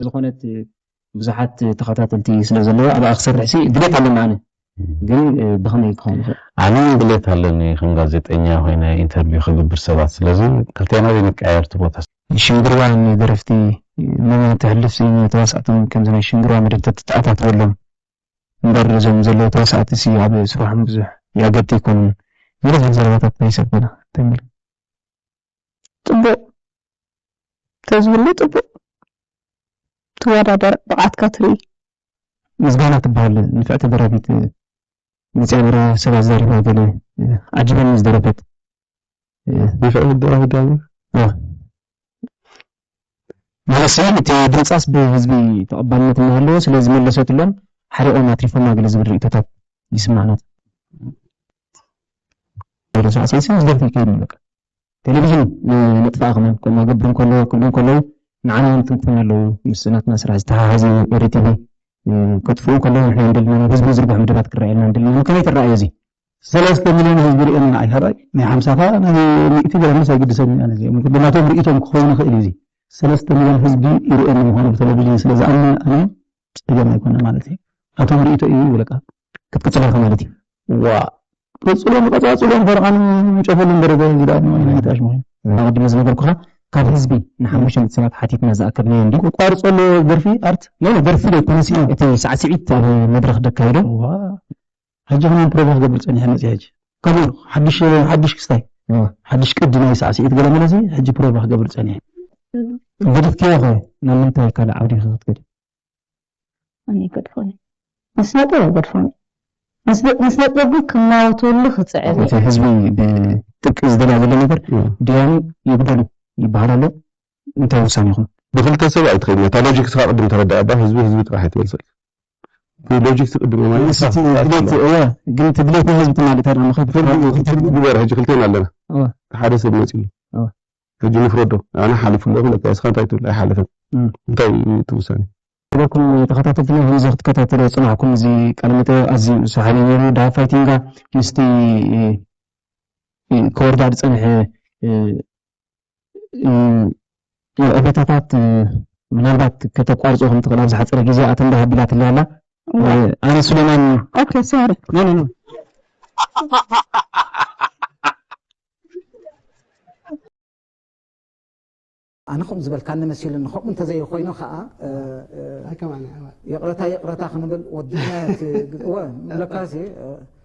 ስለዝኾነት ብዙሓት ተኸታተልቲ ስለዘለዋ ኣብኣ ክሰርሕሲ ድሌት ኣለኒ ኣነ ግን ብኸመይ ክኸውን ይኽእል? ኣነ ውን ድሌት ኣለኒ ከም ጋዜጠኛ ኮይነ ኢንተርቪው ክግብር ሰባት ስለዚ ክልቴና ዘይንቀያየር እቲ ቦታ። ሽንግርዋ ን ደረፍቲ መን ተሕልፍሲ ን ተዋሳእቲ ውን ከምዚ ናይ ሽንግርዋ መደብ ተተኣታትወሎም እምበር እዞም ዘለዉ ተዋሳእቲ ሲ ኣብ ስርሖም ብዙሕ ይኣገድቲ ኣይኮኑን ዝበዝሕ ዘረባታት ናይ ሰብ ኮነ እንታይ ምል። ጽቡቕ ተዝህሉ ጽቡቕ ትወዳደር ብቕዓትካ ትርኢ። ምስጋና ትበሃል ንፍዕቲ ደራፊት መጽያ ነይራ ሰብ ኣዛሪባ ገለ ዓጂበኒ ዝደረፈት። ንፍዕቲ ደራፊት ዲያ ነይራ? ማለትሲ እቲ ድምጻስ ብህዝቢ ተቐባልነት እናሃለዎ ስለ ዝመለሰትሎም ሓሪቖም ኣትሪፎማ ገለ ዝብል ርእይቶታት ይስማዕ ነቲ ዜሮ ሳዕሲዒትሲ ምስ ደርፊ ይከይድ እዩ በቃ። ቴሌቪዥን ነጥፍኣ ከማን ከምኡ ኣገብር እንከለዎ ክብሉ እንከለዉ ንዓና ውን ይትንክፉና ኣለዉ ምስ ናትና ስራሕ ዝተሓሓዝ እዩ ኤሪ ቲቪ ከጥፍኡ ከለዉ ንሕና እንደለና ናብ ህዝቢ ዝዝርግሑ መደባት ክረኣየልና እንደለና ከመይ ትረኣዮ እዚ? ሰለስተ ሚልዮን ህዝቢ ሪኤና ንዓይ ካባይ ናይ ሓምሳኻ ናይ ሚእቲ ገረንስ ኣይግድሰንን ኣነ እዚኦም ግን ናቶም ሪኢቶም ክኸውን ይኽእል እዩ እዚ ሰለስተ ሚልዮን ህዝቢ ይሪኤኒ ምዃኑ ብተለቪጅን ስለ ዝኣምነ ኣነ ጸገም ኣይኮነን ማለት እዩ ናቶም ሪኢቶ እዩ ይብለካ ክትቅጽል ኢኻ ማለት እዩ ዋእ ቀጽሎ ንቀጻጽሎ ፈረቓን ጨፈሉን ደረጃ እዚ ደኣ ንዋይ ናይ ታሽ ምዃኑ ኣቐዲመ ዝነገርኩኻ ካብ ህዝቢ ንሓሙሸተ ሰባት ሓቲትና ዝኣከብናዮ እንድዩ ክቋርጾ ኣለዎ ደርፊ ኣርት ኖኖ ደርፊ ዘይኮነሲ እቲ ሳዕስዒት ኣብ መድረኽ ደካይዶ ዋእ ሕጂ ክማን ፕሮቮ ክገብር ጸኒሐ መጺኣ ሕጂ። ከምኡ ኢሉ ሓድሽ ሓድሽ ክስታይ ሓድሽ ቅዲ ናይ ሳዕሲዒት ገለ መለ እዚ ሕጂ ፕሮቮ ክገብር ጸኒሐ። ገዲፍክዮ ከ ናብ ምንታይ ካልእ ዓውዲ ኢኺ ክትከዲ? ኣነ ኣይገድፎን እየ ንስነጥበብ ኣይገድፎን እየ ንስነጥበብ ግን ክማወተሉ ክጽዕር እየ። እቲ ህዝቢ ብጥብቂ ዝደልያ ዘሎ ነገር ድያኑ ይጉደሉ ይበሃል ኣሎ እንታይ ውሳኔ ይኹን ብክልተ ሰብ ኣይትኸይድን እታ ሎጂክስካ ቅድም ተረዳኣ እባ ህዝቢ ህዝቢ ጥራሕ ኣይትበልሰሉ ብሎጂክስ ቅድም ኣማኒ ንስ እቲ ድሌት እወ ግን እቲ ድሌት ናይ ህዝቢ ትማሊ ታዲያ ንኸይትፈልጥ ግበር ሕጂ ክልቴና ኣለና ሓደ ሰብ መጺኡ ሕጂ ንፍረዶ ኣነ ሓሊፉ ኣለኹ በቃ እስኻ እንታይ ትብል ኣይሓለፈን እንታይ እዩ እቲ ውሳኔ ስለኩም ተኸታተልትና ከምዚ ክትከታተሎ ዝጸናሕኩም እዚ ቃለ መጠይቕ ኣዝዩ ሰሓቢ ነይሩ ድሃብ ፋይቲንጋ ምስቲ ክወርዳ ዝጸንሐ ዕቤታታት ምናልባት ከተቋርጾ ከም ትኽእል ኣብ ዝሓጸረ ግዜ ኣተንዳ ሃቢላትለይ ኣላ ኣነ ሱሌማን ኦኬ ሶሪ ኖ ኖ ኖ ኣነ ከምኡ ዝበልካኒ መሲሉኒ ከምኡ እንተዘይኮይኑ ከዓ ይቕረታ ይቕረታ ክንብል ወዲና ለካሲ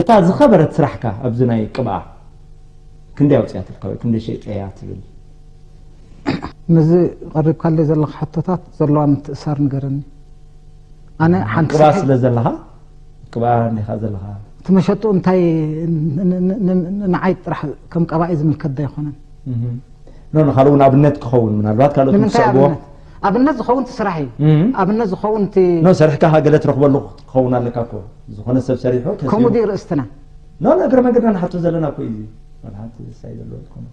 እታ ዝኸበረት ስራሕካ ኣብዚ ናይ ቅብኣ ክንደይ ኣውፅያ ትልካ ወይ ክንደይ ሸይጠያ ትብል ነዚ ቀሪብካለይ ዘለካ ሕቶታት ዘለዋ ምትእሳር ንገረኒ ኣነ ሓንቲ ቅብኣ ስለ ዘለካ ቅብኣ እንዲካ ዘለካ እቲ መሸጡ እንታይ ንዓይ ጥራሕ ከም ቀባኢ ዝምልከት ዶ ኣይኮነን ካልእ እውን ኣብነት ክኸውን ምናልባት ካልኦት ምስዕብዎ ኣብነት ዝኸውን እቲ ስራሕ እዩ ኣብነት ዝኸውን እቲ ኖ ሰሪሕካ ገለ ትረኽበሉ ክኸውን ኣለካ እኮ ዝኾነ ሰብ ሰሪሑ ከምኡ ድዩ ርእስትና ኖ እግረ መንገድና ንሓቶ ዘለና እኮ እዩ መልሓንቲ ዝሳይ ዘለዎ ዝኾነ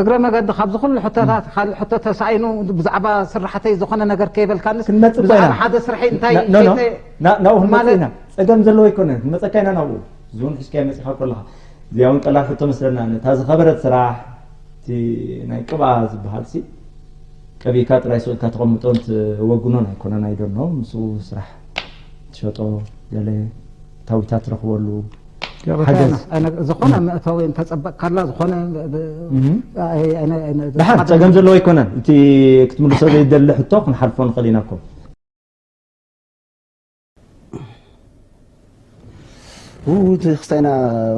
እግረ መገዲ ካብዚ ኩሉ ሕቶታት ካልእ ሕቶ ተሳኢኑ ብዛዕባ ስራሕተይ ዝኾነ ነገር ከይበልካንስ ክንመፅእ ብዛዕባ ኮይና ሓደ ስርሐይ እንታይ ኖ ኖ ከይተ- ና- ናብኡ ክንመፅእ ማለት- ኢና ፀገም ዘለዎ ኣይኮነን ክንመፀካ ኢና ናብኡ ዝውን ሕዝካዮ መፂኻ ኮለኻ እዚኣ እውን ቀላል ሕቶ መስለና ነታ ዝኸበረት ስራሕ እቲ ናይ ቅብኣ ዝበሃልሲ ቀቢእካ ጥራይ ሱቕ ኢልካ ተቐምጦን ትወግኖን ኣይኮነን ኣይደኖ ምስኡ ስራሕ ትሸጦ ገለ ታዊታት ትረኽበሉ ዝኾነ መእተዊ እንተፀበቕካላ ዝኾነ ድሓን ፀገም ዘለዎ ኣይኮነን እቲ ክትምልሶ ዘይደሊ ሕቶ ክንሓልፎ ንኽእል ኢና እኮ ክስታይ ኢና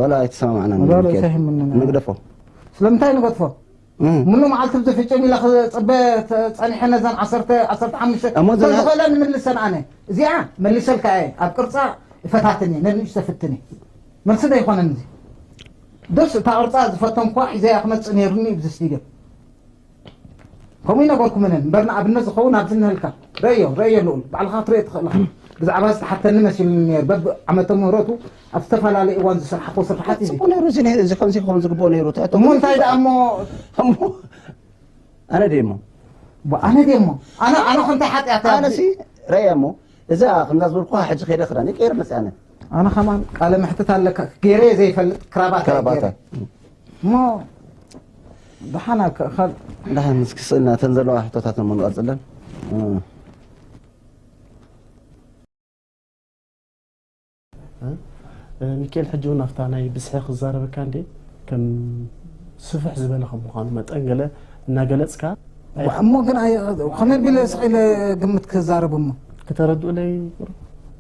ዋላ ኣይተሰማማዕና ዋላ ኣይሰማማዕና ንግደፎ ስለምንታይ ንገድፎ ምሉ መዓልቲ ብዚ ፍጭም ኢለ ክፅበ ፀኒሐ ነዘን ዓሰርተ ዓሰርተ ሓሙሽተ ተዝኸእለ ንምልሰን ኣነ እዚኣ መልሰልካ እየ ኣብ ቅርፃ ይፈታትን እየ ነንእሽ ዘፍትን እየ መልሲ ዶ ይኮነን እዚ ደስ እታ ቅርፃ ዝፈተንኳ ሒዘያ ክመፅእ ነይሩኒ ብዚ ስቲድዮ ከምኡ ኣይነበርኩምን እምበር ንኣብነት ዝኸውን ኣብዚ እንሀልካ ረእዮ ረእዮ ልኡል ባዕልኻ ክትርእዮ ትኽእል ኢኻ ብዛዕባ ዝተሓተኒ መሲሉኒ ነይሩ በብ ዓመተ ምህረቱ ኣብ ዝተፈላለየ እዋን ዝስራሕክዎ ስርሓት እዩ ጽቡቅ ነይሩ እዚ ነይሩ እዚ ከምዚ ክኸውን ዝግብኦ ነይሩ ትሕቶ እሞ እንታይ ደኣ እሞ እሞ ኣነ ደይ እሞ ኣነ ደይ እሞ ኣነ ኣነ ከምታይ ሓጢኣት ኣነ ሲ ረእያ እሞ እዛ ከምዛ ዝበልኩኻ ሕጂ ከይደ ክዳን ቀይረ መጽያ ኣነ ኣነ ከማን ቃለ መሕትት ኣለካ ገይረ ዘይፈልጥ ክራባት ክራባታ እሞ ደሓና ክእኸል ደሓን እስኪ ስእና እተን ዘለዋ ሕቶታት እሞ ንቐፅለን ሚካኤል ሕጂ እውን ኣብታ ናይ ብዝሒ ክዛረበካ እንዴ ከም ስፍሕ ዝበለ ከም ምዃኑ መጠን ገለ እናገለፅካ እሞ ግን ከመይ ቢለ ስቂለ ግምት ክዛረብ እሞ ክተረድኡለይ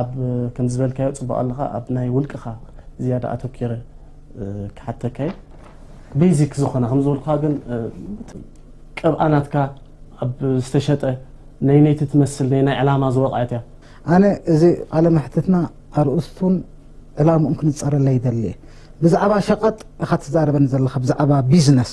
ኣብ ከምዚ ዝበልካዮ ጽቡቅ ኣለኻ ኣብ ናይ ውልቅኻ ዝያዳ ኣተኪረ ክሓተካየ ቤዚክ ዝኾነ ከም ዝበልኩኻ ግን ቅብኣ ናትካ ኣብ ዝተሸጠ ነይነይቲ ትመስል ነይ ናይ ዕላማ ዝወቕዐት እያ ኣነ እዚ ቃለ መሕትትና ኣርእስቱን ዕላምኡን ክንጸረለ ይደሊ እየ ብዛዕባ ሸቐጥ ኢኻ ትዛረበኒ ዘለኻ ብዛዕባ ቢዝነስ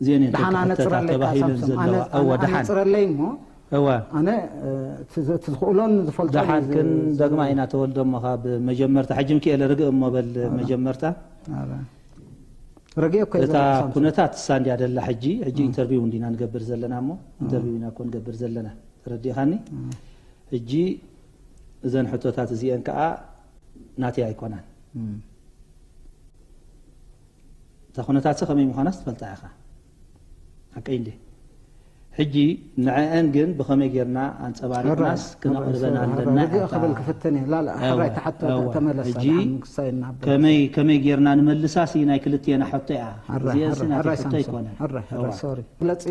እዚኤን እየን ደሓን ክሕተታ ኣነፅረለይ ካኣ ተባሂለን ሳምሶም ዘለዋ ኣነ እወ ኣነ ደሓን ኣነፅረለይ እሞ እወ ኣነ እ፣ እቲ ዝ- እቲ ዝኽእሎን ዝፈልጦን እዩ ደሓን ዝ- ክን ዝ- ደግማ ኢና ተወልዶ እሞ ካብ መጀመርታ ሕጂ ምኪኤለ ርግእ እሞ በል መጀመርታ ኣረ፣ ረጊኦ እኮ እየ ዘለኹ እታ ሳምሶም ኩነታት እሳ እንድያ ደላ ሕጂ ሕጂ ኢንተርቪው እንዲና ንገብር ዘለና እሞ ኢንተርቪው ኢና እኮ ንገብር ዘለና ተረዲእኻኒ ሕጂ እዘን ሕቶታት እዚኤን ከዓ ናተይ ኣይኮናን እም፣ እታ ኩነታትሲ ከመይ ምዃናስ ትፈልጣ ኢኻ ሓቀይ እንድየ ሕጂ ንዐኣን ግን ብኸመይ ጌርና ኣንጸባሪቕናስ ክነቕርበን ኣለና ኢኻ ክብል ክፍትን እየ ላላ ሕራይ እታ ሕቶ ተመለሳ ድሓን ክሳይ እናበለ ከመይ ከመይ ጌርና ንመልሳሲ ናይ ክልቴና ሕቶ እያ እዚኣሲ ናተይ ሕቶ ኣይኮነን ሕራይ ሕራይ ሶሪ ግለጺ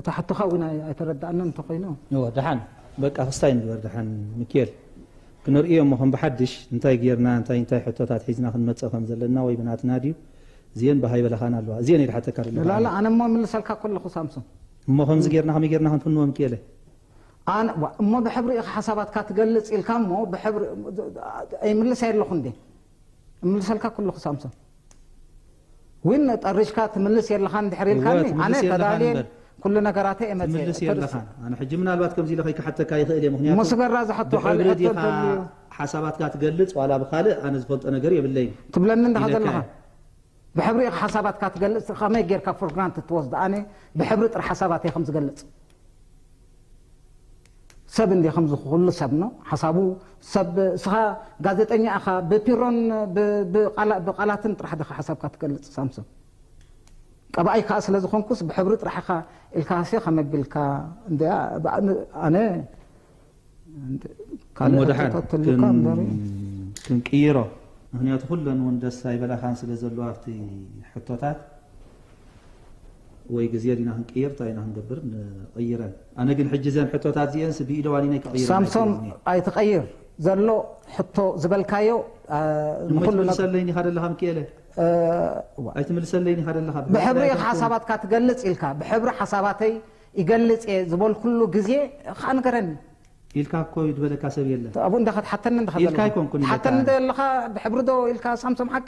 እታ ሕቶኻ እውን ኣይተረዳእናን እንተኾይኑ ድሓን በቃ ክስታይ ንግበር ድሓን ምኪኤል ክንርእዮ እሞ ከም ብሓድሽ እንታይ ጌርና እንታይ እንታይ ሕቶታት ሒዝና ክንመጽእ ከም ዘለና ወይ ብናትና ድዩ እዚኤን ብሃይ በለኻን ኣለዋ እዚኤን እየ ድሓተካ ደለኹ ኣነ። ላላ ኣነ እሞ ይምልሰልካ እኮ ኣለኹ ሳምሶም። እሞ ከምዚ ጌርና ከመይ ጌርና ክንፍንዎ ምኪኤለ። ኣነ ዋእ እሞ ብሕብሪ ኢኻ ሓሳባትካ ትገልጽ ኢልካ እሞ ብሕብሪ እይምልሰይ ኣለኹ እንዴ እምልሰልካ እኮ ኣለኹ ሳምሶም። ዊን ጠሪሽካ ትምልስ የለኻን እንድሕር ኢልካኒ ኣነ ተዳልየ ኩሉ ነገራተይ እየ መፅየ ትምልስ የለኻን ኣነ ሕጂ ምናልባት ከምዚ ኢለ ከይክሓተካ ይኽእል እየ ምኽንያቱ ሙስገራ ዝሐቶ ካልእ ብሕብሪ ሕቶ ዲኻ እንተልዩ ሓሳባትካ ትገልጽ ዋላ ብኻልእ ኣነ ዝፈልጦ ነገር የብለይን ትብለኒ እንድኻ ኢለካ ዘለኻ እየ ብሕብሪ ኢኻ ሓሳባትካ ትገልጽ ከመይ ጌርካ ፎር ግራንትድ ትወስዶ ኣነ ብሕብሪ ጥራሕ ሓሳባተይ ከም ዝገልጽ ሰብ እንድየ ከምዚ ኩሉ ሰብ ን ሓሳቡ ሰብ እስኻ ጋዜጠኛ እኻ ብፒሮን ብቃላትን ጥራሕ ድኻ ሓሳብካ ትገልጽ ሳምሶም ቀባኣይ ከኣ ስለ ዝኾንኩስ ብሕብሪ ጥራሕ እኻ ኢልካ ሃስየ ከመቢልካ እንድያ ኣነ ካልእ ሕቶታት ተልዩካ እምበሪ ክንቅይሮ ምክንያቱ ኩለን እውን ደስ ኣይበላኻን ስለ ዘለዎ ኣብቲ ሕቶታት ወይ ግዜ ዲና ክንቅይር ታይ ኢና ክንገብር ንቅይረን ኣነ ግን ሕጂ ዘን ሕቶታት ዚኤንስ ብኢደ ዋኒነይ ክቅይረን ሳምሶም ኣይክእልን እየ። ኣይትቀይር ዘሎ ሕቶ ዝበልካዮ እሞ ንኩሉ ነግ ኣይትምልሰለይን ኢካ ደለካ ምኪኤለ እዋ ኣይትምልሰለይን ኢካ ደለካ ብሕብሪ ብሕብሪ ኢካ ኣይኮንኩን ሓሳባትካ ትገልጽ ኢልካ ብሕብሪ ሓሳባተይ ይገልጽ እየ ዝበልኩሉ ግዜ ከኣ ንገረኒ ኢልካ እኮ እዩ ዝበለካ ሰብ የለን ኣብኡ እንዳ ከትሓተኒ እንዳ ኢልካ ከዘለካ ኣይኮንኩን ኢለካ ትሓተኒ ኣነ። ዶ ኣለካ ብሕብሪ ዶ ኢልካ ሳምሶም ሓቀ